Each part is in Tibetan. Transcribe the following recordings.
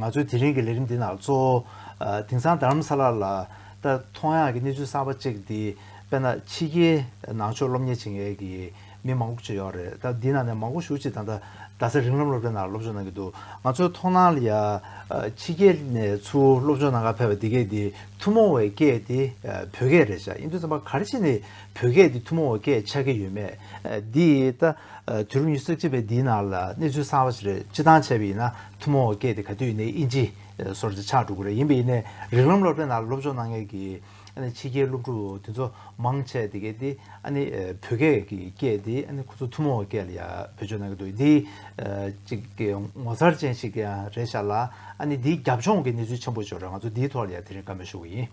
ང་ཚོའི་དེ་རིང་གི་ལས་རིམ་འདི་ནང་གཙོ་བོ་དེང་སང་རྡ་རམ་ས་ལ་ལ་ལྟར་མཐོང་ཡག་གི་གནས་ཚུལ་གསར་པ་གཅིག་འདི་དཔེར་ན་ཕྱི་རྒྱལ་ནང་ཆོས་སློབ་གཉེར་བྱེད་མཁན་གྱི་མི་མང་པོ་བཅས་ཡོད་རེད་ད་འདི་ནང་ནས་མང་པོ་ཞུགས་ཅིག་ད་ལྟ་རྡ་སའི་རིགས་ལམ་སློབ་གྲྭའི་ནང་སློབ་སྦྱོང་གནང་གི་འདུག་ང་ཚོའི་མཐོང་སྣང་ལ་ཡ། ཕྱི་རྒྱལ་ནས་ཚུར་སློབ་སྦྱོང་གནང་ག་ཕེབས་པ་འདི་སྐད་དེ་ཐུན་མོང་བའི་སྐད་དེ་བོད་སྐད་རེད་ཤག་ཨིན་རྡུ་ཚན་པ་ག་རེ་བྱས་ནས་བོད་སྐད་དེ་ཐུན་མོང་བའི་སྐད་ཆགས་ཀྱི་ཡོད་མེད་འདི་ད་དུས་རབས་ཉི་ཤུ་རྩ་གཅིག་པའི་འདི་ནང་ལ་གནས་ཚུལ་གསང་བ་ཞིག་རེད་སྤྱི་བཏང་བྱས་པ་ཡིན་ན་ཐུན་མོང་བའི་སྐད་དེ་ག་དུས་ཡིན་ནའི་ཨིན་ཇི་སོར་ཆགས་འགྲོ་གི་རེད་ཡིན་པ་ཡིན་ནའི་རིགས་ལམ་སློབ་གྲྭའི་ནང་སློབ་སྦྱོང་གནང་མཁན་གྱི། ཨ་ནི་ཕྱི་རྒྱལ་སློབ་ཕྲུག་དེ་ཚོ་མང་ཆེ་དེ་གས་དེ་ཨ་ནི་བོད་སྐད་ཀྱི་སྐད་དེ་ཨ་ནི་ཁོ་ཚོ་ཐུ་མོ་བོ་སྐད་ལ་ཡང་བེད་སྤྱོད་གནང་གི་འདུག་འདི་ཅིག་གི་ངོ་མཚར་ཅན་ཞིག་ཀྱང་རེད་ཤག་ལ་ཨ་ནི་འདིའི་རྒྱབ་ལྗོངས་ཀྱི་གནས་ཚུལ་ཆེན་པོ་ཤོར་ར་ང་ཚོ་འདིའི་ཐོག་ལ་ཡང་དེ་རིང་བཀའ་མོལ་ཞུ་གི་ཡིན།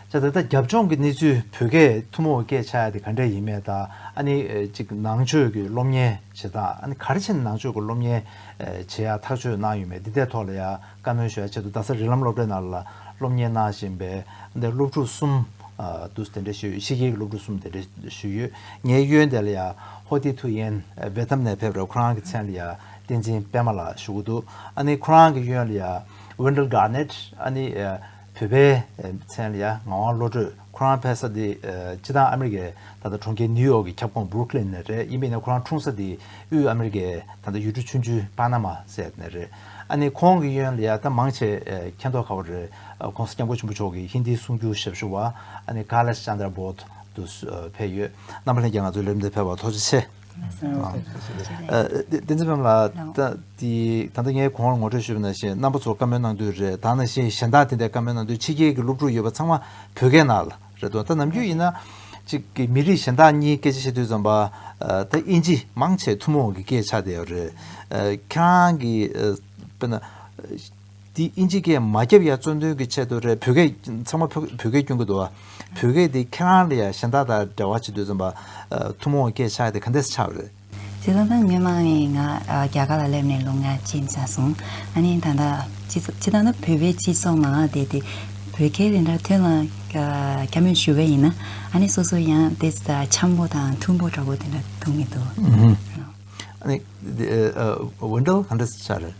ཅག་ད་ལྟ་རྒྱབ་ལྗོངས་ཀྱི་གནས་ཚུལ་བོད་སྐད་ཐུ་མོ་བོ་སྐད་ཆ་དེ་ག་འདྲ་ཡིན་མེད་དང་ཨ་ནི་ཅིག་ནང་ཆོས་ཀྱི་སློབ་གཉེར་བྱེད་སྟངས་ཨ་ནི་གར་ཕྱིན་ནང་ཆོས་ཀྱི་སློབ་གཉེར་བྱེད་ཡག་ཐག་གཅོད་གནང་ཡོད་མེད་འདི་ལྟའི་ཐོག་ལ་ཡང། བཀའ་མོལ་ཞུ་བའི་ཆེད་དུ་རྡ་ས་རི་ལམ་སློབ་གྲྭའི་ནང་ལ་སློབ་གཉེར་གནང་བཞིན་པའི་དེ་སློབ་ཕྲུག་གསུམ་དུ་དེ་འདྲ་ཞུས་ཡོད་ཕྱི་རྒྱལ་གྱི་སློབ་ཕྲུག་གསུམ་དེ་འདྲ་ཞུས་ཡོད་ངའི་གཡོན་དེ་ལ་ཡ་ཧོ་ཏི་ཐུ་ཡན་བེ་ཐམ་ནས་ཕེབས་རེད་ཁོ་རང་གི་མཚན་ལ་ཡ་བསྟན་འཛིན་པད་མ་ལགས་ཞུ་གི་འདུག་ཨ་ནི་ཁོ་རང་གི་གཡོན་ལ་ཡ་ཝེན་དྲེལ་གྷར་ནེད་ཨ་ནི། བོད་པའི་མཚན་ལ་ཡ་ང་དབང་བློ་གྲོས་ཁོ་རང་ཕེབས་ས་དེ་སྤྱི་བཏང་ཨ་མེ་རི་ཀའི་ད་ལྟ་གྲོང་ཁྱེར་ནིའུ་ཡོག་གི་ཁྱབ་ཁོངས་བུར་ཁི་ལིན་ནས་རེད་དབྱིན་པས་ནི་ཁོ་རང་འཁྲུངས་ས་དེ་དབུས་ཨ་མེ་རི་ཀའི་ད་ལྟ་ཡུལ་གྲུ་ཆུང་ཆུང་པ་ན་མ་སེད་ནས་རེད་ཨ་ནི་ཁོང་གི་ཡོན་ལ་ཡ་ད་མང་ཆེ་མཁྱེན་རྟོགས་ཁ་བ་རེད་ཁོང་སྐྱབས་མགོན་ཆེན་པོ་མཆོག་གི་ཧིན་དིའི་གསུང་རྒྱུ་ཞབས་ཞུ་བ་ཨ་ནི་ཀ་ལ་ཅཱན་དར་བོད་དུ་ཕེབས་ཡོད་རྣམ་པ་ལྷན་རྒྱས་ང་ཚོའི་ལས་རིམ་དེ་ཕེབས་པར་ཐོགས་རྗེ་ཆེ། བསྟན་འཛིན་བམ་ལ། ད་ལྟ་ངས་གོང་བར་ངོ་སྤྲོད་ཞུས་པ་ན་ཞེས་རྣམ་པ་ཚོར་བཀའ་མོལ་གནང་དུས་རེད་ད་ན་ཞེས་གཞན་དག་དེ་འདྲའི་བཀའ་མོལ་གནང་དུས་ཕྱི་རྒྱལ་གྱི་སློབ་ཕྲུག་ཡོད་པ་ཚང་མ་བོད་སྐད་ནང་ལ་རེད་དོ་ད་ནམ་རྒྱུན་ཡིན་ན། ཅིག་མི་རིགས་གཞན་དག་གཉིས་སྐད་ཆ་བཤད་དུས་ཙམ་པ་ད་དབྱིན་ཇི་མང་ཆེ་ཐུན་མོང་གི་སྐད་ཆ་དེ་ཡོད་རེད། ཁྱེད་རང་གིས་དཔེར་ན། འདི་ཨིན་ཇི་སྐད་མ་རྒྱབ་ཡ་བཙོན་དོན་གྱི་ཆེད་དུ་རེད་བོད་སྐད་ཚང་མ་བོད་སྐད་སྐྱོན་གྱི་འདུག་བོད་སྐད་འདི་ཁྱེད་རང་ལས་ཡ་གཞན་དག་དང་འབྲེལ་བ་བྱེད་དུས་རྩོམ་པ་ཐུན་མོང་སྐད་ཆ་དེ་ག་འདྲས་སུ་ཆགས་རེད། སྲིད་བློན་དང་མི་མང་ནས་ང་རྒྱ་གར་ལ་སླེབས་ནས་ལོ་ལྔ་ཕྱིན་ས་སོང་ཨ་ནི་ད་ལྟ་སྤྱི་ད་ལྟ་བོད་པའི་སྤྱི་ཚོགས་ནང་བསྡད་དེ་བོད་སྐད་དེ་འདྲ་ཐོན་ལ་སྐྱ་མོས་ཞུ་བས་ཡིན་ན་ཨ་ནི་སོ་སོ་ཡང་དེ་འཆམ་པོ་དང་མཐུན་པོ་འདྲ་པོ་དེ་འདྲ་མཐོང་གི་འདུག། ཨ་ནི་འོན་ཀྲོ་ག་འདྲས་སུ་ཆགས་རེད།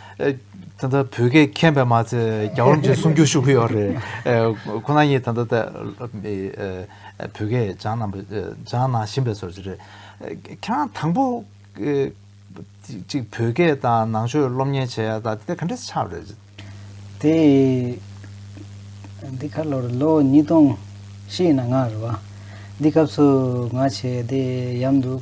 ད་ལྟ་བོད་སྐད་མཁྱེན་པས་མ་ཚད་རྒྱ་གར་རྣམས་ཀྱིས་སྲུང་སྐྱོབ་ཤུགས་ཀྱི་ཡོད་རེད། ཁོ་ན་གཉིས་ད་ལྟ་བོད་སྐད་སྦྱང་ན་སྦྱང་ན་བཞིན་པའི་སོར་ཆུད་རེད། ཁྱེད་རང་དང་པོ་གཅིག་བོད་སྐད་དང་ནང་ཆོས་སློབ་གཉེར་བྱས་ཡ་ད་དེ་ག་འདྲའི་ཆགས་རེད། དེ་འདི་ག་ལོར་ལོ་ཉིས་སྟོང་བཞི་ཡིན་ན་ང་རེད་བ། འདི་སྐབས་སུ་ང་ཆེ་བསྡད་ཡམ་འདུག།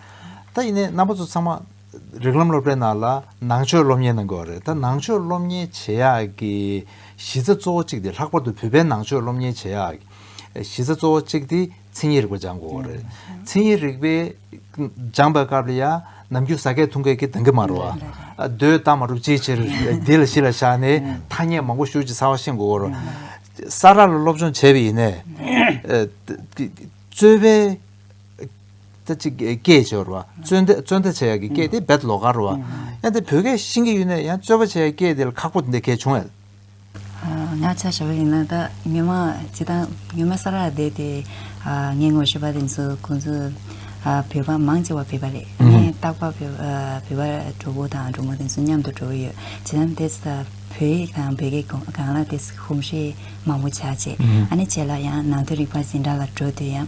ད་ཡིན་ནའི་རྣམ་པ་ཚོ་ཚང་མ་རིགས་ལམ་སློབ་གྲྭའི་ནང་ལ་ནང་ཆོས་སློབ་གཉེར་གནང་དགོས་བ་རེད་ད་ནང་ཆོས་སློབ་གཉེར་བྱེད་ཡག་གི་གཞི་རྩ་གཙོ་བོ་གཅིག་དེ་ལྷག་པར་དུ་བོད་པའི་ནང་ཆོས་སློབ་གཉེར་བྱེད་ཡག་གི་གཞི་རྩ་གཙོ་བོ་གཅིག་དེ་མཚན་ཉིད་རིག་པ་སྦྱང་དགོས་བ་རེད་མཚན་ཉིད་རིག་པའི་སྦྱང་བའི་སྐབས་ལ་ཡང་ནམ་རྒྱུན་ཟ་སྐད་འཐུང་སྐད་ཀྱི་དང་གི་མ་རུ་བ་རྡོའི་རྟགས་མ་གྲུབ་ཅིའི་ཕྱིར་འདི་ལ་གཞི་ལ་བཞག་ནས་ཐ་སྙད་མང་པོ་ཤུགས་ཀྱིས་ཚང་བ་ཤེས་དགོས་བ་རུ་ས་རཱ་ལ་སློབ་སྦྱོང་བྱས་བ་ཡིན་ནའི་རྩོད་པའི། ལྟ་ཅི་སྐད་སྦྱོར་བ། རྩོད་ལྟ་བྱ་ཡག་གི་སྐད་དེ་རྦད་ལོག་གར་བ། ཡང་དེ་བོད་སྐད་ཤིང་གི་ཡུལ་ནས་ཡང་རྩོད་པ་བྱ་ཡག་སྐད་དེ་ལ་ཁག་པོ་འདི་གལ་ཆུང་ཨེ། ང་ཆ་ཞེ་བ་ཡིན་ན་ད་ཉི་མ་ཇི་ད་ཉི་མ་ས་ར་བསྡད་དེ་ངའི་ངོ་ཤེས་པ་རིང་སུ་ཁོང་ཚོ་བོད་པ་མང་ཆེ་བ་བོད་པ་རེད་ངས་རྟག་པ་བོད་པ་གྲོགས་པོ་དང་གྲོགས་མོ་དེ་ཚོ་མཉམ་དུ་འགྲོ་གི་ཡོད་ཇི་ད་དེ་ད་བོད་ཡིག་དང་བོད་སྐད་གང་ལ་དེ་ཧུམ་ཧྲི་མང་པོ་བྱ་བྱས་ཨ་ནི་བྱས་ལ་ཡང་ནང་དོན་རིག་པ་འཛིན་གྲྭ་ལ་འགྲོ་དུས་ཡང།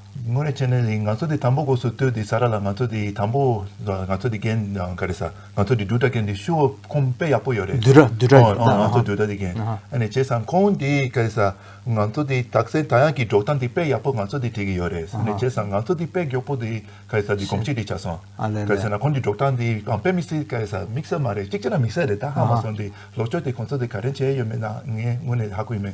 དངོས་རེད་ཅེ་ནས་ལིང་ང་ཚོ་དེ་དང་པོ་སྒོས་སུ་ལྟོས་དེ་ས་ར་ལ་ང་ཚོ་དེ་དང་པོ་ང་ཚོ་དེ་རྒན་ག་རེ་ས་ང་ཚོ་དེ་སྒྲུ་གྲ་རྒན་དེ་ཤུ་བོ་ཁོང་དཔེ་ཡག་པོ་ཡོད་རེད་སྒྲུ་གྲ་སྒྲུ་གྲ་ཨ་ང་ཚོ་སྒྲུ་གྲ་དེ་རྒན་ཨ་ནས་བྱས་སང་ཁོང་དེ་ག་རེ་ས་ང་ཚོ་དེ་དག་སེན་ད་ཡང་གི་སྒྲོག་ཐང་དེ་དཔེ་ཡག་པོ་ང་ཚོ་དེ་བྲིས་གི་ཡོད་རེད་ས་ནས་བྱས་སང་ང་ཚོ་དེ་དཔེ་མགྱོགས་པོ་དེ་ག་རེ་ས་དེ་གོམས་གཅིག་དེ་བྱ་སོང་ག་རེ་ས་ན་ཁོང་དེ་སྒྲོག་ཐང་དེ་དཔེ་མི་སྲིད་ག་རེ་ས་མིག་སེར་མ་རེད་གཅིག་ཅེ་ན་མིག་སེར་རེད་ད་ཧ་མ་སོང་དེ་ལོག་སྤྱོད་དེ་ཁོང་ཚོ་དེ་ག་རེ་བྱས་ཡོད་མེད་ན་ངས་དངོས་ནས་ཧ་གོ་ཡི་མེད།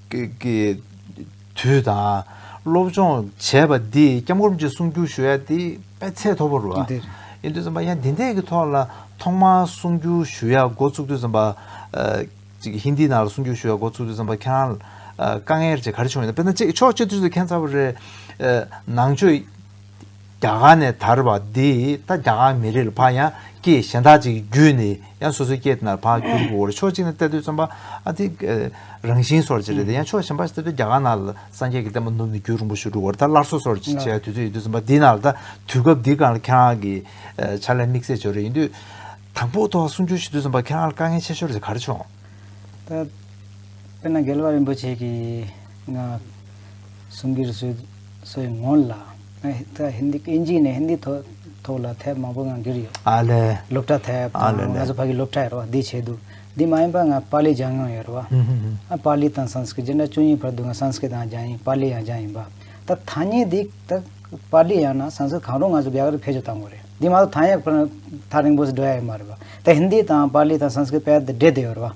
ཀྱི་དུས་དང། སློབ་སྦྱོང་བྱས་པ་འདིས་སྐྱབས་མགོན་གྱི་གསུང་རྒྱུན་ཞུ་ཡ་དེ་སྤེལ་ཚད་མཐོ་པོ་རུ་ཨ་འདིར། ཡིན་དུས་བརྩམས་པ་ཡང་འདི་འད་ཀྱི་ཐོག་ལ་ཐོག་མར་གསུང་རྒྱུན་ཞུ་ཡ་འགོ་ཚུགས་དུས་བརྩམས་པ། ཅིག་ཧིན་དི་ནང་ལ་གསུང་རྒྱུན་ཞུ་ཡ་འགོ་ཚུགས་དུས་བརྩམས་པ་ཁྱེད་རང། དཀའ་ངལ་ཅིག་ག་རེ་བྱུང་ཡོད་དམ་དཔེར་ན་ཕྱོགས་གཅིག་དུས་སུ་ཁྱེད་ཚ་བོ་རེད། ནང་ཆོས། རྒྱ་གར་ནས་དར་བ་འདི་ད་རྒྱ་གར་མི་རིགས་ལ་ཕ་ཡང་སྐྱེས་གཞན་དག་ཅིག་བརྒྱུད་ནས་ཡང་སོ་སོའི་སྐྱེས་དེ་ན་ཕ་བརྒྱུད་དགོས་བོར་ཕྱོགས་གཅིག་ནས་བལྟས་དུས་རྩོམ་པ་ཨ་དེ་རང་བཞིན་སོར་བཅད་རེད་དེ་ཡང་ཕྱོགས་གཞན་པ་ཞིག་བལྟས་དུས་རྒྱ་གར་ནང་ལ་སངས་རྒྱས་ཀྱི་བསྟན་པ་ནུབ་ནས་བརྒྱུད་རིང་པོ་ཞིག་འགྲོ་བར་ད་སླར་སོ་སོར་བཅད་དུས་ཚོད་ཡོད་དུས་རྩོམ་པ་འདི་ནང་ལ་ད་དུས་སྐབས་འདི་གང་ལ་ཁྱེད་རང་གི་ཕྱག་ལས་དམིགས་བསལ་བྱོས་རེ་ཡིན་དུས། དང་པོ་ཐོག་གསུང་བརྒྱུད་ཞུ་དུས་རྩོམ་པ་ཁྱེད་རང་ལ་དཀའ་ངལ་ཆེ་ཤོར་ཟེར་ག་རེ་བྱུང། ད་དཔེར་ན་རྒྱལ་བ་རིན་པོ་ཆེ་གིས་ང། གསུང་གི་རེ་སོའི་ངོ་ལ། ཧིནྡི་ཨིན་ཇི་ནས་ཧིནྡི་ཐོག་ལ་ཐད་མང་པོ་ངང་འགྱུར་ཡོད། སློབ་གྲྭ་ཐད་དང་ང་ཚོ་ཕ་གི་སློབ་གྲྭ་ཡོད་རེད་བ་འདི་བྱས་འདུག་འདི་མ་ཡིན་པ་ང་པཱ་ལི་སྦྱང་མྱོང་ཡོད་རེད་བ། ཨ་པཱ་ལི་དང་སངས་སྐིར་སྦྱར་ན་ཅུང་ཉེ་བར་འདུག་ང་སངས་སྐིར་དང་སྦྱང་ཡིན་པཱ་ལི་ཡང་སྦྱང་ཡིན་པ། ད་ཐ་སྙད་འདི་ད་པཱ་ལི་ཡང་ན་སངས་སྐིར་གང་རུང་ང་ཚོ་རྒྱ་གར་དུ་ཕེབས་རྗེས་བཏང་བ་རེད། འདི་མ་གཏོགས་ཐ་སྙད་ཁོ་ན་ཐག་རིང་པོ་ཞིག་འགྲོ་ཡ་ཡོད་མ་རེད་བ། ད་ཧིནྡི་དང་པཱ་ལི་དང་སངས་སྐིར་དཔལ་དུ་སྦྲེལ་དུ་ཡོད་རེད་བ།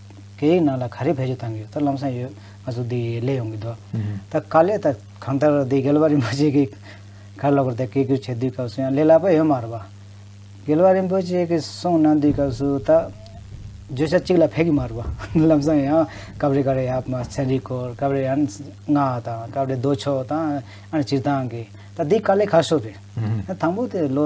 སྐད་ཡིག་ནང་ལ་ག་རེ་བེད་སྤྱོད་བཏང་གི་ཡོད་ད་ལམ་སང་ཡོད་ང་ཚོ་འདི་ལས་ཡོང་གི་འདུག་ད་དཀའ་ལས་ད་གང་ལྟར་འདི་རྒྱལ་བ་རིན་པོ་ཆེ་གི་གར་ལོག་པར་ད་སྐད་སྒྱུར་བྱེད་དུས་སྐབས་སུ་ཡང་ལས་སླ་པོ་ཡོད་མ་རེད་པ། རྒྱལ་བ་རིན་པོ་ཆེ་གི་གསུང་གནང་དུས་སྐབས་སུ་ད་བརྗོད་བྱ་གཅིག་ལ་ཕེབས་གི་མ་རེད་པ། ལམ་སང་ཡང་སྐབས་རེ་ག་རེ་ཡབ་མ་ཚན་རིག་སྐོར་སྐབས་རེ་ཡང་ངག་དང་སྐབས་རེ་རྡོ་ཕྱོགས་དང་ཨ་རེ་སྤྱིར་བཏང་གི་ད་འདི་དཀའ་ལས་ཁ་ཤོ་རེད། དང་པོ་དེ་ལོ།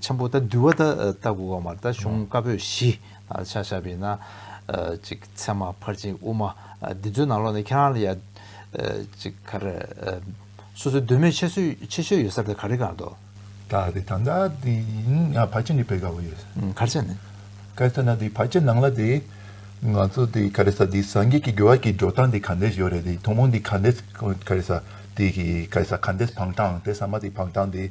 ཆེན་པོ་དང་འདུལ་བ་དང་ལྟ་དགུ་བ་མར་དང་གཞུང་བཀའ་པོད་བཞི། ཕྱག་བཞག་པའི་ན། མཚན་མ་ཕར་ཕྱིན་དབུ་མ། འདི་ཚོའི་ནང་ལོགས་ནས་ཁྱེད་རང་ལ་ཡང། སོ་སོའི་འདོད་མོས་ཆེ་ཤོས་ཡོད་ས་དེ་ག་རེ་གང་འདོད། དག་དེ་དང་དག་དེ་ཡིན་ཡང་བར་ཆད་འདི་འཕེལ་དཀའ་བོ་ཡོད། གར་ཆད་ནི། གར་ཆད་ན་དེ་བར་ཆད་ནང་ལ་དེ། ང་ཚོ་དེ་ག་རེ་ས་དེ་སངས་རྒྱས་ཀྱི་དགེ་བ་གྱི་འགྲོ་སྟངས་དེ་ག་འདྲས་ཡོད་རེད་དེ་ཐུན་མོང་དེ་ག་འདྲས་ག་རེ་ས་དེ་ག་རེ་ས་ག་འདྲས་བག་གྲངས་དེ་ས་མ་དེ་བག་གྲངས་དེ།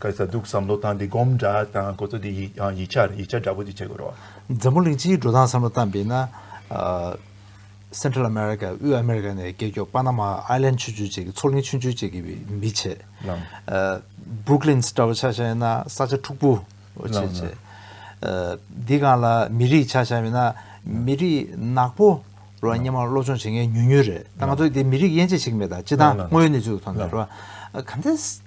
ག་ས་འདུག་བསམ་བློ་བཏང་སྟེ་སྒོམ་འདྲ་དང་གོ་ཚོད་དེ་ཡིག་ཆ་ཡིག་ཆ་འདྲ་པོ་དེ་བྱེད་དགོས་རོགས། འཛམ་བུ་གླིང་སྤྱིའི་འགྲོ་སྟངས་བསམ་བློ་བཏང་པས་ན། Central America དབུས་ཨ་མེ་རི་ཀ་ནས་སྐད་སྐྱོགས་པ་ན་མ Island ཆུ་ཆུ་བཅས་ཀྱི་མཚོ་གླིང་ཆུང་ཆུང་བཅས་ཀྱི་མི་བྱེད། Brooklyn ཆ་བོ་ཆགས་ཤ་ཡིན་ན་ས་ཆ་འཁྲུག་པོ་བྱེད་བྱེད། འདི་གང་ལ་མི་རིགས་ཆགས་ཤ་མིན་ན་མི་རིགས་ནག་པོ་རོ་སྙེ་མ་སློབ་སྦྱོང་བྱེད་མཁན་ཉུང་ཉུང་རེད་ད་ང་ཚོ་འདི་མི་རིགས་དབྱེ་འབྱེད་བྱེད་ཀྱི་མེད་ད་སྤྱི་བཏང་དངོས་ཡོད་གནས་ཚུལ་དུ་མཐོང་ན་རོ། ག་འདི།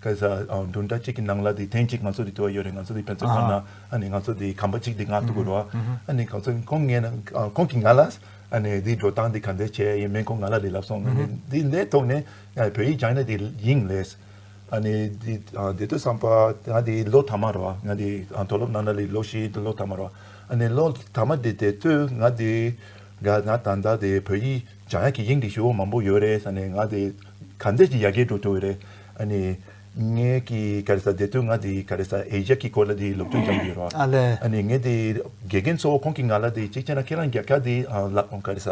སྐད་ཆ་འདི་འདྲ་གཅིག་གི་ནང་ལ་དེ་ཐེངས་གཅིག་ང་ཚོ་དེ་དུ་བ་ཡོད་རེད་ང་ཚོ་དེ་ཕན་ཚུན་ཁོ་ན་ཨ་ནི་ང་ཚོ་དེ་གམ་པ་གཅིག་དེ་ང་ཐུག་གི་རོ་ཨ་ནི་གང་ཚོད་ཁོང་ངས་ན་ཁོང་གི་ང་ལ་ཨ་ནི་དེ་འགྲོ་སྟངས་དེ་ག་འདྲས་བྱས་ཡིན་མིན་ཁོང་ང་ལ་རེ་ལབ་སོང་དེ་ལས་ཐོག་ནས་བོད་ཡིག་སྦྱངས་ནས་དེ་ཡིན་རེད་ཨ་ནི་དེ་དེ་དུས་བསམ་པ་ང་དེ་ལོ་དང་མ་རོ་ང་དེ་མཐོ་སློབ་ནང་ན་ལོ་བཞི་དུ་ལོ་དང་མ་རོ་ཨ་ནི་ལོ་དང་མ་དེ་དེ་དུས་ང་དེ་ང་ད་ལྟ་དེ་བོད་ཡིག་སྦྱངས་ཡག་གི་ཡིན་གི་ཞུ་བ་མང་པོ་ཡོད་རེད་ཨ་ནི་ང་དེ། གང་འདི་ཀྱི་ཡ་གེ་འགྲོ་ཐུ་བས་རེད། ཨ་ནི། ངས་ཀྱི་ག་རེ་ས་འདི་དུས་ང་འདི་ག་རེ་ས་ཨེ་རྒྱབ་ཀྱི་སྐོར་ལ་འདི་སློབ་སྦྱོང་སྦྱང་གི་ཡོད་རོགས། ཨ་ལེ། ཨ་ནི་ངས་འདི་དགེ་རྒན་ཚོ་ཁོང་གི་ང་ལ་འདི་གཅིག་བྱས་ན་ཁྱེད་རང་རྒྱབ་ཁྱག་འདི་ལག་ག་རེ་ས་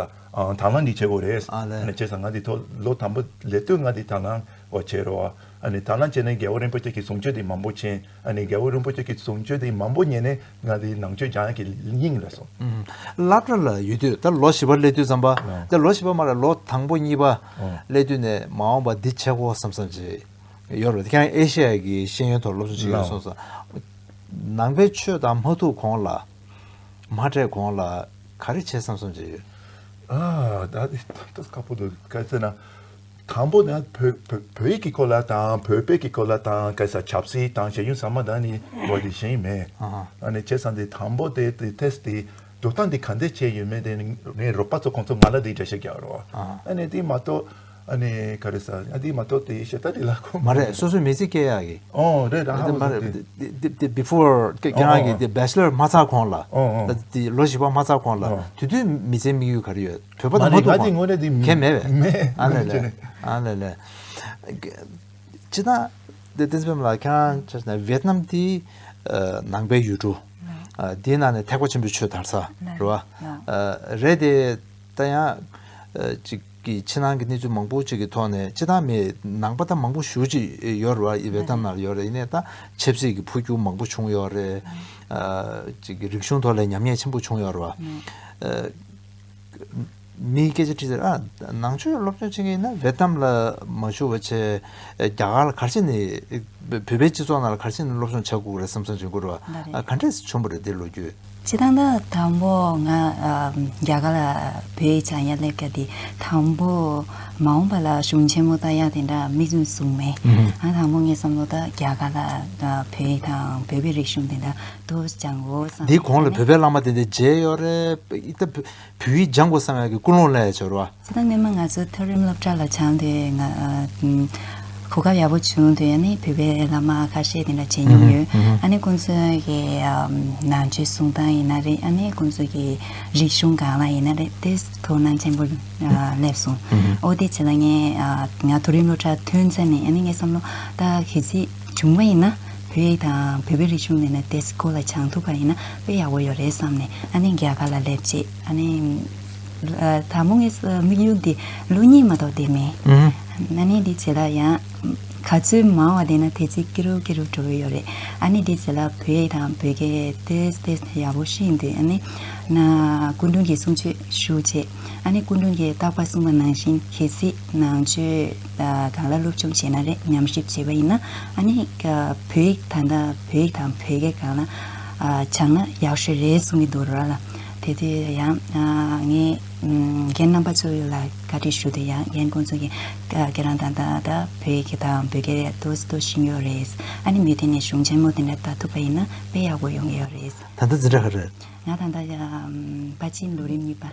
དང་བླངས་འདི་བྱེད་དགོས་རེད། ཨ་ལེ། ཨ་ནི་བྱས་ས་ང་འདི་ཐོ་ལོ་དང་པོ་ལས་དུས་ང་འདི་དང་བླངས་བ་བྱས་རོགས། ཨ་ནི་དང་བླངས་བྱས་ནས་རྒྱལ་བ་རིན་པོ་ཆེ་ཀྱི་གསུང་ཆོས་འདི་མང་པོ་མཁྱེན། ཨ་ནི་རྒྱལ་བོ་རིན་པོ་ཆེ་གིས་གཟུངས་བཅོལ་དེ་མང་པོ་ཉན་ནས་ང་འདིའི་ནང་ཆོས་རྒྱང་གི་སྙིང་ལ་སོང། བླ་བྲ་ལ་ཡོད་དུས་ད་ལོ་བཞི་པ་སླེབས་དུས་ཙམ་པ། དེ་ལོ་བཞི་པ་མ་ལ་ལོ་དང་པོ་གཉིས་པ་སླེབས་དུས་ནས་མ་འོངས་པ་འདི་བྱེད་གོ་བསམ་བསམ་བྱེད་ཡོད་རེད་ཁྱེད་རང་ཨེ་ཤེ་ཡ་གི་ཤེས་ཡོན་ཐོག་སློབ་སྦྱོང་བྱེད་ཀྱི་ཡོད་སོང་ཟེར། ནང་པའི་ཆོས་དང་མ་ཐུག་གོང་ལ། མ་འཕྲད་གོང་ལ་ག་རེ་བྱེད་བསམ་བསམ་བྱེད་ཡོད། ཨ་ད་དེ་ལྟ་དཀའ་པོ་འདུག་གལ་སྲིད་ན། དང་པོ་ནི་བོད་ཡིག་གི་སྐོར་ལ་དང་བོད་དཔེ་ཀྱི་སྐོར་ལ་དང་སྐད་ཆ་ཆབ་སྲིད་དང་ཤེས་ཡོན་ཚང་མ་དང་ནི་ལོ་རྒྱུས་ཤེས་ཡོན་མེད། ནི་བྱས་ཙང་དེ་དང་པོ་དེ་ཐེས་དེ་སྒྲུབ་སྟངས་དེ་ག་འདྲས་བྱས་ཡོད་མེད་དེ་ངའི་རོགས་པ་ཚོ་ཁོང་ཚོ་ང་ལ་དེ་འདྲ་བཤད་རྒྱག་རོགས། ནི་དེ་མ་གཏོགས་ནི་ག་རེ་ས་དེ་མ་གཏོགས་དེ་ཞེ་ད་དེ་ལ་ཁོམ། མ་རེད་སོ་སོའི་མི་ཚེ་སྐྱེལ་ཡག་གི། ཨོ་རེད་ཨ་ཧ། མ་རེད་དེ before ཁྱེད་རང་གི་དེ Bachelor མ་ཚར་གོང་ལ། ལོ་བཞི་པ་མ་ཚར་གོང་ལ་དུས་དུས་མི་ཚེའི་དམིགས་ཡུལ་ག་རེ་ཡོད། ཐོས་པ་དང་མ་ཐོས་པ་ཁྱད་མེད་པས། ཨ་ལས་ལས། ཨ་ལས་ལས། སྤྱིར་ན་དེ་བསྟན་འཛིན་པ་ལགས་ཁྱེད་རང་ཆ་ནས་ཝེ་ཏི་ནམ་དེ་ནང་པའི་ཡུལ་གྲུ། དེའི་ནང་ནས་ཐེག་པ་ཆེན་པོའི་ཆོས་དར་ས་རེད་བ། རེད་དེ་ད་ཡང་ཅིག་གི་ཕྱི་ནང་གི་གནས་ཚུལ་མང་པོ་ཅིག་གི་ཐོག་ནས་སྤྱི་བཏང་མི་ནང་པ་ད་མང་པོ་བཞུགས་ཅིག་ཡོད་རེད་བ་ཝེ་ཏི་ནམ་ནང་ཡོད་རེད་ནས་ད་ཆབ་སྲིད་ཀྱི་འཕོ་འགྱུར་མང་པོ་བྱུང་ཡོད་རེད། ཅིག་གི་རིག་གཞུང་ཐོག་ལས་ཉམས་ཉེས་ཆེན་པོ་བྱུང་ཡོད་རེད་བ། མིའི་སྐད་ཆ་ཁྲིད་ཚེ། ནང་ཆོས་སློབ་སྦྱོང་བྱེད་མཁན་ཡིན་ན་བེད་གཏམ་ལ་མ་ཞུགས་པ་ཆེད། རྒྱ་གར་ལ་གར་ཕྱིན་ནས། བོད་པའི་སྤྱི་ཚོགས་ནང་ལ་གར་ཕྱིན་ནས་སློབ་སྦྱོང་བྱ་དགོས་རེད་བསམ་བསམ་བྱེད་དགོས་རེད་བ། ག་འདྲས་བྱུང་བ་རེད་འདིར་ལོ་རྒྱུས། བྱེད་སྟངས་དང་དང་པོ་ང་རྒྱ་གར་ལ་བོད་བྱང་ཡ་སླེབས་སྐབས་དེ་དང་པོ། མ་འོངས་པ་ལ་གཞུང་ཆེན་མོ་ད་ཡག་དེ་འདྲ་མིག་ཟུང་བཟུང་མེད། ང་དང་པོ་ངས་བསམ་བློ་ད་རྒྱ་གར་ལ་བོད་དང་བོད་པའི་རིག་གཞུང་དེ་འདྲ་དུ་སྦྱང་ངོ་བསམ་འདིའི་གོང་ལ་བོད་པའི་བླ་མ་དེ་འདྲའི་རྗེས་ཡོད་རེད། བུ་ཡིས་སྦྱང་དགོས་བསམ་ཡག་གི་ཀུན་སློང་ལས་འཆོར་བ། ཚེ་དང་སྨིན་མ་ང་ཚོ་མཐོ་རིམ་སློབ་གྲྭ་ལ་བྱང་སྟེ། གོ་སྐབས་ཡག་པོ་བྱུང་དུས་ཡང་ནི་བོད་པའི་བླ་མ་ཁ་ཤས་དེ་འདྲ་བྱེད་མྱོང་ཡོད། ཨ་ནི་ཁོང་ཚོའི་གི་ནང་ཆོས་གསུང་སྟངས་ཡིན་ན་རེད་ཨ་ནི་ཁོང་ཚོ་གི་རིག་གཞུང་གང་ལ་ཡིན་ན་རེད་དེ་དོ་སྣང་ཆེན་པོ་སླེབས་སོང། འོ་དེ་བྱས་ལ་ངས་ང་མཐོ་རིམ་སློབ་གྲྭ་ཐོན་ཚད་ནས་ཡང་ནི་ངས་བསམ་བློ་ད་གི་སྲིད། བྱུང་བ་ཡིན་ན་བོད་ཡིག་དང་བོད་པའི་རིག་གཞུང་མེད་ན་དེ་སྐོར་ལ་བྱང་ཐུབ་པ་ཡིན་ན་དཔེ་ཡག་པོ་ཡོད་རེད་བསམ་ནས་ཨ་ནེ་རྒྱ་གར་ལ་སླེབས་རྗེས་ཨ་ནེ། ད་མོ་ངའི་དམིགས་ཡུལ་འདི་ལོ་གཉིས་མ་གཏོགས་བསྡད་མེད། ཨ་ནེ་འདི་བྱས་ལ་ཡང་ག་ཚོད་མང་བ་བསྡད་ན་དེ་ཚོད་སྐྱིད་རུབ་སྐྱིད་རུབ་འགྲོ་གི་ཡོད་རེད་ཨ་ནེ་འདི་བྱས་ལ་བོད་ཡིག་དང་བོད་སྐད་ཏེས་ཏེས་ཡག་པོ་ཤེས་འདུག་ཨ་ནེ། ན་སྐུ་མདུན་གྱི་གསུང་ཆོས་ཞུ་རྗེས་ཨ་ནེ་སྐུ་མདུན་གྱིས་རྟག་པར་གསུངས་པ་ནང་བཞིན་གལ་སྲིད། ནང་ཆོས་གང་ལ་སློབ་སྦྱོང་བྱས་ན་རེད་ཉམས་ཞིབ་བྱས་པ་ཡིན་ན་ཨ་ནི་བོད་ཡིག་ད་ལྟ་བོད་ཡིག་དང་བོད་སྐད་གང་ན་སྦྱང་ན་ཡག་ཤོས་རེད་གསུང་གི་འདུག་ར་ལ་དེ་དུས་ཡང་ངའི་རྒན་རྣམ་པ་ཚོ་ཡོད་ལ་བཀའ་དྲིན་ཞུ་དུས་ཡང་རྒན་ཀུན་ཚོ་གི་ཁྱེད་རང་ད་ལྟ་བོད་ཡིག་དང་བོད་སྐད་རེད་དུ་སྟོད་བཞིན་ཡོད་རེད་ཨ་ནི་མི་དེ་ནས་གཞུང་ཆེན་མོ་དེ་འདྲ་ལྟ་ཐུབ་པ་ཡིན་ན་དཔེ་ཡག་པོ་ཡོང་གི་ཡོད་རེད། ད་ལྟ་འཛིན་གྲྭ་ག་རེད། ང་ད་ལྟ་དཔའ་སྤྱིན་ལོ་རིམ་གཉིས་པ།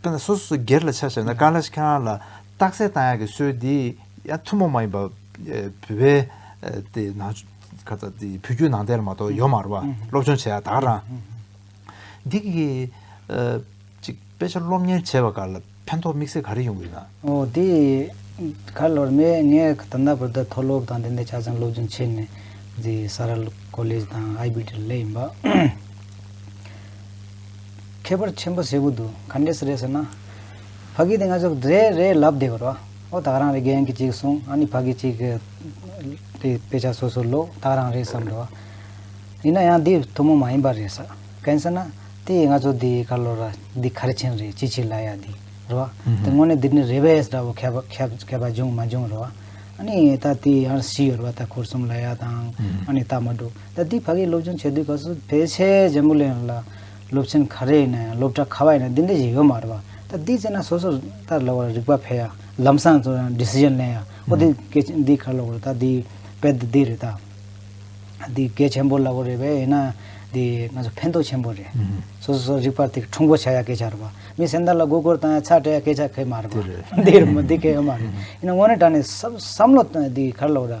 དཔེར་ན་སོ་སོ་སོ་སྒེར་ལ་ཆ་བཞག་ན་དཀར་ལ་ཤ་ཁང་ལ་རྟགས་གསལ་བཏང་ཡག་གི་སྲོལ་འདི་ཡང་ཐུན་མོང་མ་ཡིན་པར་བོད་པའི་དེ་ནང་ཁ་ཚ་དེ་བོད་བརྒྱུད་ནང་བསྟན་ལ་མ་གཏོགས་ཡོད་མ་རུང་བ་སློབ་སྦྱོང་བྱས་ཡག་དག་རང། འདི་གི་གཅིག་དཔེ་ཆ་སློབ་གཉེར་བྱས་པ་འགའ་ལ་ཕན་ཐོགས་དམིགས་བསལ་ག་རེ་ཡོང་གི་ཡོད་ན། འོ་དེ་ག་ལ་བར་མེད་ངས་ད་ལྟ་བར་དུ་མཐོ་སློབ་དང་དེ་འདྲའི་ཆ་ཚང་སློབ་སྦྱོང་བྱས་ནས་རྫི་ས་ར་ཀོ་ལེ་ཇ་དང་ཨའི་བྷི་ཏི་ར་ལས་ཡིན་པ། ཁྱད་པར་ཆེན་པོ་ཟེར་བུ་འདུག་ག་འདྲས་སུ་རེད་ཟེར་ན། ཕ་གི་དེ་ང་ཚོ་རེད་རེད་ལབ་བསྡད་གོ་རོགས། ཨོ་ད་རང་རེད་རྒན་གྱིས་གཅིག་གསུང་ཨ་ནི་ཕ་གིས་གཅིག་དེ་དཔེ་ཆ་སོ་སོ་ཀློག་ད་རང་རེད་བསམ་འགྲོ། ཡིན་ན་ཡང་འདི་ཐུན་མོང་མ་ཡིན་པ་རེད་ས། གན་ཟེར་ན། དེ་ང་ཚོ་འདི་ག་ལོ་ར་འདི་ག་རེ་ཆེན་རེད་ཅི་ཆི་ལ་ཡ་འདི་རོ། དེ་སྔོན་ནས་འདི་ནི་རེད་བས་འདྲ་བོ་ཁ་བ་ཁ་བ་འབྱུང་མ་འབྱུང་རོ། ཨ་ནི་ད་དེ་ཡང་བཞི་ཡོད་རོ་ད་འཁོར་གསུམ་ལ་ཡ་དང་ཨ་ནི་ད་མ་འགྲོ། ད་དུས་ཕ་གིའི་སློབ་སྦྱོང་བྱེད་དུས་སྐབས་སུ་ཕལ་ཆེར་རྒྱ་མོ་ལོས་ལ་སློབ་ཆེན་ག་རེ་ཡིན་ན་སློབ་གྲྭ་ག་བ་ཡིན་ན་འདི་འདྲ་ཞིག་ཡོད་མ་རེད་པ། ད་དུས་བྱས་ན་སོ་སོར་ལྟར་ལོག་ལ་རིག་པ་འཕེལ་ཡ་ལམ་སང་འཚོལ་ཡང Decision ལེན་ཡ་ཨོ་དེ་གལ་ཆེན་འདི་གར་ལོག་རེད་ད་འདི་དཔེ་དེ་འདི་རེད་ད་འདི་གལ་ཆེན་པོ་ལ་གོ་རེད་བས་ཡིན་ན་འདི་ང་ཚོ་ཕན་ཐོག་ཆེན་པོ་རེད། སོ་སོ་སོར་རིག་པ་དེ་ཁྲུང་པོ་བྱ་ཡ་སྐད་ཆ་རེད་པ། མི་སེམས་དར་ལ་མགོ་སྐོར་བཏང་ཡ་ཚགས་སྤྲད་ཡ་སྐད་ཆ་ཁེ་མ་རེད་པ། འདི་རེད་མོ་འདི་གལ་ཡོད་མ་རེད། ཡིན་ན་དངོས་གནས་དྲ་ནས་བསམ་བསམ་བློ་དང་འདི་གར་ལོག་ར།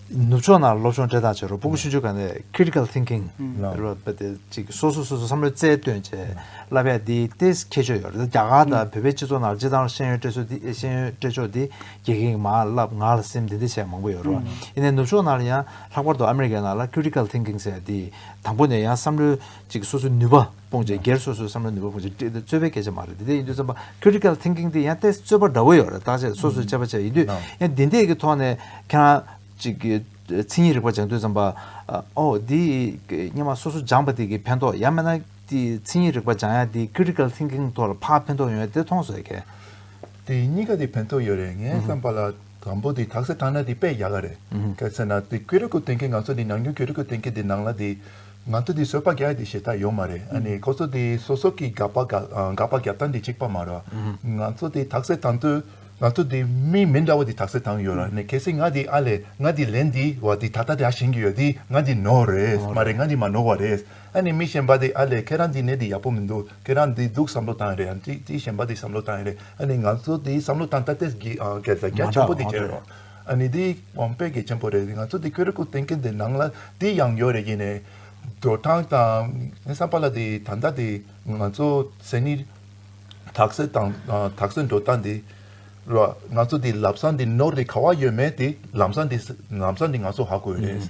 ནུབ་ཕྱོགས་ནང་སློབ་སྦྱོང་འབྲེལ་ཐག་བྱས་རོགས་པུ་གུ་ཤུན་ཆོས་ག་ནས Critical Thinking ཅིག་སོ་སོ་སོ་སོའི་བསམ་བློའི་རྩལ་བཏོན་བྱས་བསླབ་ཡ་འདི་ལྟའི་ཁྱད་ཆོས་ཡོད་རེད་རྒྱ་གར་དང་བོད་པའི་སྤྱི་ཚོགས་ནང་སྤྱི་བཏང་ཤེས་ཡོན་སྤྲད་སྲོལ་ཤེས་ཡོན་སྤྲད་ཕྱོགས་འདི་དགེ་རྒན་གྱི་མ་བསླབ་ངག་ལ་སེམས་འདི་འདི་བྱས་མང་པོ་ཡོད་རོགས་ཡིན་ནའི་ནུབ་ཕྱོགས་ནང་ལ་ཡང་ལྷག་པར་དུ་ཨ་མི་རི་ཀའི་ནང་ལ Critical Thinking ཟེར་བ་འདི་དང་པོ་ནས་ཡང་བསམ་བློའི་ཅིག་སོ་སོའི་ནུས་པ། སྤོང་བྱེད་སྒེར་སོ་སོའི་བསམ་བློ་ནུས་པ་སྤོང་བྱེད་བཀྲིས་དེ་རྩོད་པའི་སྐད་ཆ་མ་རེད་དེ་འདྲས་ཡིན་དུས་བསམ་པ Critical Thinking དེ་ཡང་ཏེ་རྩོད་པ་འདྲ་བོ་ཡོད་རེད་བརྟག་དཔྱད་སོ་སོས་དཔྱད་པ་བྱས་ཡིན་དུས་ཡང་འདི་འདྲས་ཀྱི་ཐོག་ནས་ཁྱེད་རང་ཅིག་གིས་མཚན་ཉིད་རིག་པ་སྦྱང་དུས་བསམ་པ་ཨོ་འདི་སྙེ་མ་སོ་སོ་སྦྱངས་པ་དེ་གིས་ཕན་ཐོགས་ཡང་མེད་ན་དེ་མཚན་ཉིད་རིག་པ་སྦྱང་ཡང་དེ Critical Thinking ཐོག་ལ་ཕ་ཕན་ཐོགས་ཡོད་དེ་མཐོང་བཟོད་མཁན། དེ་གཉིས་ཀ་དེ་ཕན་ཐོགས་ཡོད་རེད་ངས་བསམ་པ་ལ། དང་པོ་དེ་དག་སེ་ཐང་ན་དེ་དཔེ་ཡག་ག་རེད་སྐད་ཚེ་ན་དེ་ཀེ་རི་ཀོ་ཏེན་ཀེ་ང་ཚོ་དེ་ནང་རྒྱུན་ཀེ་རི་ཀོ་ཏེན་ཀེ་དེ་ནང་ལ་དེ་ང་ཚོ་དེ་བཟོད་པ་རྒྱག་དེ་ཞེ་ཐག་ཡོད་མ་རེད་ཨ་ནི་ཁོ་ཚོ་དེ་སོ་སོ་ཀེ་དགག་པ་དགག་པ་རྒྱབ་སྟངས་དེ་གཅིག་པ་མ་རོ་ང་ཚོ་དེ་དག་སེ་ཐང་དུ་ང་ཚོ་དེ་མི་མི་འདྲ་བ་དེ་དག་སེ་ཐང་ཡོད་ར་ནི་གལ་སྲིད་ང་དེ་ཨ་ལས་ང་དེ་ལན་དེ་བ་དེ་ད་ལྟ་དེ་ཨ་ཞེན་གི་ཡོད་དེ་ང་དེ་ནོར་རེད་མ་རེད་ང་དེ་མ་ནོར་བ་རེད། ཨ་ནི་མི་གཞན་པ་དེ་ཨ་ལས་ཁྱེད་རང་འདི་ནས་འདི་ཡག་པོ་མི་འདུག་ཁྱེད་རང་འདི་སྡུག་བསམ་བློ་བཏང་ཡས་རེད་ཨ་ནི་དེ་གཞན་པ་དེ་བསམ་བློ་བཏང་ཡས་རེད་ཨ་ནི་ང་ཚོ་དེ་བསམ་བློ་བཏང་ད་ལྟས་ཀྱི་སྐད་ཆ་རྒྱ་ཆེན་པོ་དེ་བྱས་རོགས་ཨ་ནི་དེ་དབང་པོའི་སྐད་ཆེན་པོ་རེད་ང་ཚོ་དེ་ཁྱོད་རེ་སྐུ་རྟེན་ཁེ་འདི་ནང་ལ་དེ་ཡང་ཡོད་རེད་ཡིན་ནས་འགྲོ་སྟངས་དང་ངའི་བསམ་པ་ལ་དེ་ད་ལྟ་དེ་ང་ཚོ་སེམས་ནི་དག་སེ་དང་དག་སེ་འགྲོ་སྟངས་དེ་རོགས་ང་ཚོ་དེ་ལབ་སངས་དེ་ནོར་དེ་ག་བ་ཡོད་མེད་དེ་ལམ་སངས་དེ་ལམ་སངས་དེ་ང་ཚོ་ཧ་གོ་ཡས་རེད།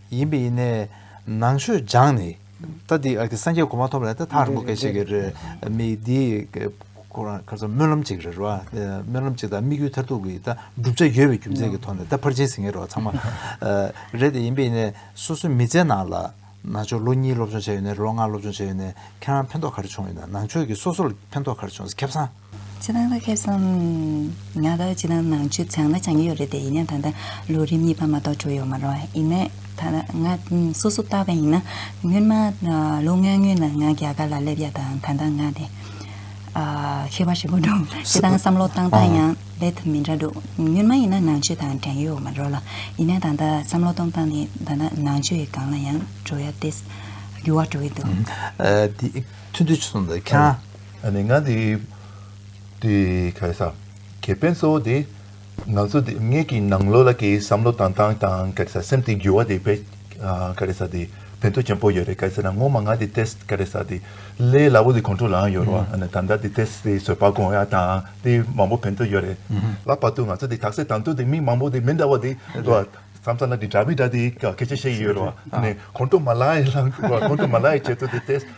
ཡིན་པས་ཡིན་ནས་ནང་ཆོས་སྦྱངས་ནས་ད་འདི་སངས་རྒྱས་གོ་མ་ཐོབ་ལ་ད་ཐག་རིང་པོ་སྐད་ཆ་གི་རེད་མི་འདི་ཁོ་རང་ག་ཚོད་སྨོན་ལམ་གཅིག་རེད་རོ་སྨོན་ལམ་གཅིག་དང་དམིགས་ཡུལ་མཐར་ཐུག་གི་ད་བསྒྲུབ་བྱ་ཡོད་པའི་རྒྱུ་མཚན་གི་ཐོག་ནས་ད་ཕར་ཕྱིན་ཟིན་ངེས་རོ་ཚང་མ་རེད་དེ་ཡིན་པས་ཡིན་ནས་སོ་སོའི་མི་ཚེ་ནང་ལ་ནང་ཆོས་ལོ་གཉིས་སློབ་སྦྱོང་བྱས་ཡོད་ནས་ལོ་ལྔ་སློབ་སྦྱོང་བྱས་ཡོད་ནས་ཁྱེད་རང་ཕན་ཐོག་ག་རེ་བྱུང་ཡོད་ན་ནང་ཆོས་ཀྱི་སོ་སོར་ཕན་ཐོག་ག་རེ་བྱུང་ཟེར་ཁེབས་སང། ཕྱི་ནང་ལ་ཁེ་བཟང། ང་ལ་ཕྱི་ནང་ནང་ཆོས་ཚང་མ་སྦྱང་གི་ཡོད་རེད་དེ་ཡིན་ན་ད་ལྟ་ལོ་རིམ་གཉིས་པ་མ་གཏོགས་བྱུང་ཡོད་མ་རུང་ཡིན་ནའི། ད་ལྟ་ང་སོ་སོ་བལྟ་བ་ཡིན་ན། སྔོན་མ་ལོ་ལྔའི་སྔོན་ལ་ང་རྒྱ་གར་ལ་སླེབས་ཡ་དང་ད་ལྟ་ང་དེ། ཤི་བ་ཞིག་པོ་འདུག་དེ་དང་བསམ་བློ་བཏང་སྟངས་ཡང་ལས་ཐབས་མི་འདྲ་འདུག་སྔོན་མ་ཡིན་ན་ནང་ཆོས་དང་འགྲན་ཡོད་མ་རུང་ལ་ཡིན་ནའི་ད་ལྟ་བསམ་བློ་གཏོང་སྟངས་དེ་ད་ལྟ་ནང་ཆོས་ཡི་སྒང་ལ་ཡང་འགྲོ་ཡ་ཏེ། འགྱུར་བ་འགྲོ་ཡི་འདུག། ཐུན་ཐུན་ཆུ་སོང་དང་ཁྱང། ཨ་ནི་ང་འདི། དེ་ག་ས། ཁེ་ཕན་གཙོ་བོ་དེ། ང་ཚོ་དེ་ངེད་ཀྱི་ནང་ལོགས་ལ་ཀྱི་བསམ་བློ་དང་ཏང་དང་ག་རེ་ས་སེམས་དེ་འགྱུར་བ་དེ་བེད་ག་རེ་ས་དེ་ཕན་ཐོགས་ཆེན་པོ་ཡོད་རེད་ག་ས་ན་ངོ་མ་ང་དེ test ག་རེ་ས་དེ་ལས་སླ་བོ་དེ་ཁོང་ཁྲོ་ལའང་ཡོད་རོགས་ཨ་ནི་ད་ལྟ་དེ test དེ་བཟོད་པ་དགོངས་ཡ་དང་དེ་མང་པོ་ཕན་ཐོགས་ཡོད་རེད་ལ་བར་དུ་ང་ཚོ་དེ་དག་སེ་དང་དུ་དེ་མི་མང་པོ་དེ་མི་འདྲ་བ་དེ་བསམ་ས་ན་དེ་འདྲ་མི་འདྲ་དེ་ག་གལ་ཆེ་ཤེས་ཡོད་རོགས་ཨ་ནི་ཁོང་ཁྲོ་མ་ལའི་ལངས་ཁོང་ཁྲོ་མ་ལའི་ཆེད་དུ་དེ test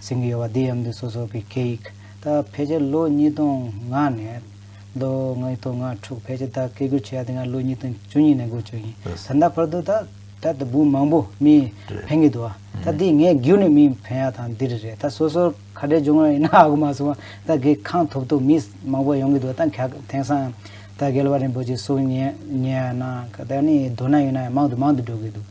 ཟིན་གྱི་ཡོད་པ་འདི་ཡམ་དུ་སོ་སོ་གི་སྐད་ཡིག་ད་ཕལ་ཆེར་ལོ་གཉིས་སྟོང་ལྔ་ནས་ལོ་ལྔ་ཡི་ཐོག་ང་ཕྲུག་ཕལ་ཆེར་ད་སྐད་སྒྱུར་བྱས་ཡ་དེ་ང་ལོ་གཉིས་སྟོང་བཅུ་གཉིས་ནས་སྒུར་བྱོས་ཡིན་ད་ལྟ་བར་དུ་ད་ད་ད་བུ་མང་པོ་མི་ཕན་གྱི་འདུག་ཨ་ད་འདི་ངས་བསྒྱུར་ནས་མི་ཕན་ཡ་དང་འདི་རེ་རེད་ད་སོ་སོར་ཁ་བྲལ་འབྱུང་བ་ཡིན་ན་ཨ་གུ་མ་སོང་བ་ད་གི་ཁང་ཐོབ་ཐོབ་མི་མང་པོ་ཡོང་གི་འདུག་ད་ག་དེང་སང་ད་རྒྱལ་བ་རིན་པོ་ཆེ་སོགས་ཉན་ཉན་ཡ་ན་ག་ད་ནི་མདོར་ན་ཡིན་ན་ཡང་མང་དུ་མང་དུ་འགྲོ་གི་འདུག།